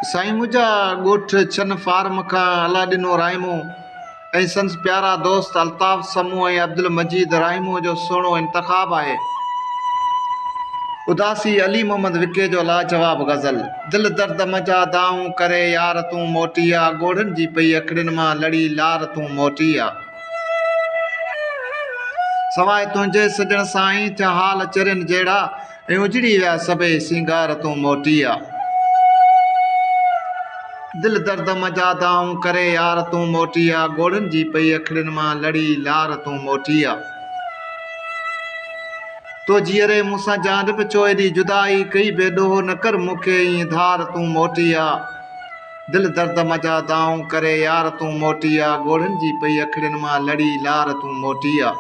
سائين منهنجا ڳوٺ ڇن فارم کان الاڏنو راهيمو ۽ سندس پيارا دوست الطاف سمون ۽ عبدالمجيد راهيمو جو سهڻو انتخاب آهي. اداسي علي محمد وڪي جو لاجواب غزل دل درد منجها دانهون ڪري يار تون موٽي آ ڳوڙهن جي پئي اکڙين مان لڙي لار تون موٽي آ. سواء تنهنجي سڄڻ سائين ٿيا حال چرين جهڙا ۽ اجڙي ويا سڀئي سينگار تون موٽي آ دل درد م جا دانهون ڪري يار تون موٽي آ ڳوڙهن جي پئي اکڙين مان لڙي لار تون موٽي آ تو جيئري مون سان جان به ڇو ايڏي جدائي ڪئي بي ڏوهه نه ڪر مون کي ايئن ڌار تون موٽي آ دل درد م جا دانهون ڪري يار تون موٽي آ ڳوڙهن جي پئي اکڙين مان لڙي لار تون موٽي آ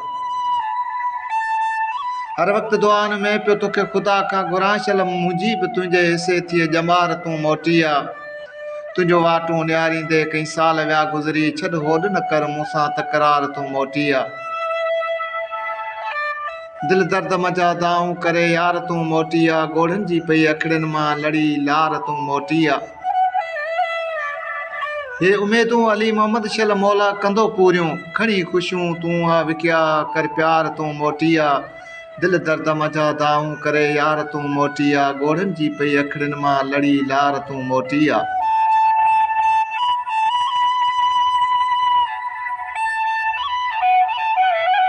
هر وقت دعائن ۾ پيو توکي خدا کان گهران شل منهنجي به تنهنجي حصي ٿئي ڄمار تون موٽي آ تنهنجو واٽون نهاريندي ڪئين سال ويا گذري ڇڏ هوڏ نه ڪر مون سان تڪرار تون موٽي آ. دل درد منجهان دانهون ڪري يار تون موٽي آ ڳوڙهن جي پئي اکڙين مان لڙي لار تون موٽي آ هي اميدون علي محمد شل مولا ڪندو پوريون کڻي خوشيون تون آ وڪيا ڪر پيار تون موٽي آ دل درد منجهان دانهون ڪري يار تون موٽي آ ڳوڙهن جي پئي اکڙين مان لڙي لار تون موٽي آ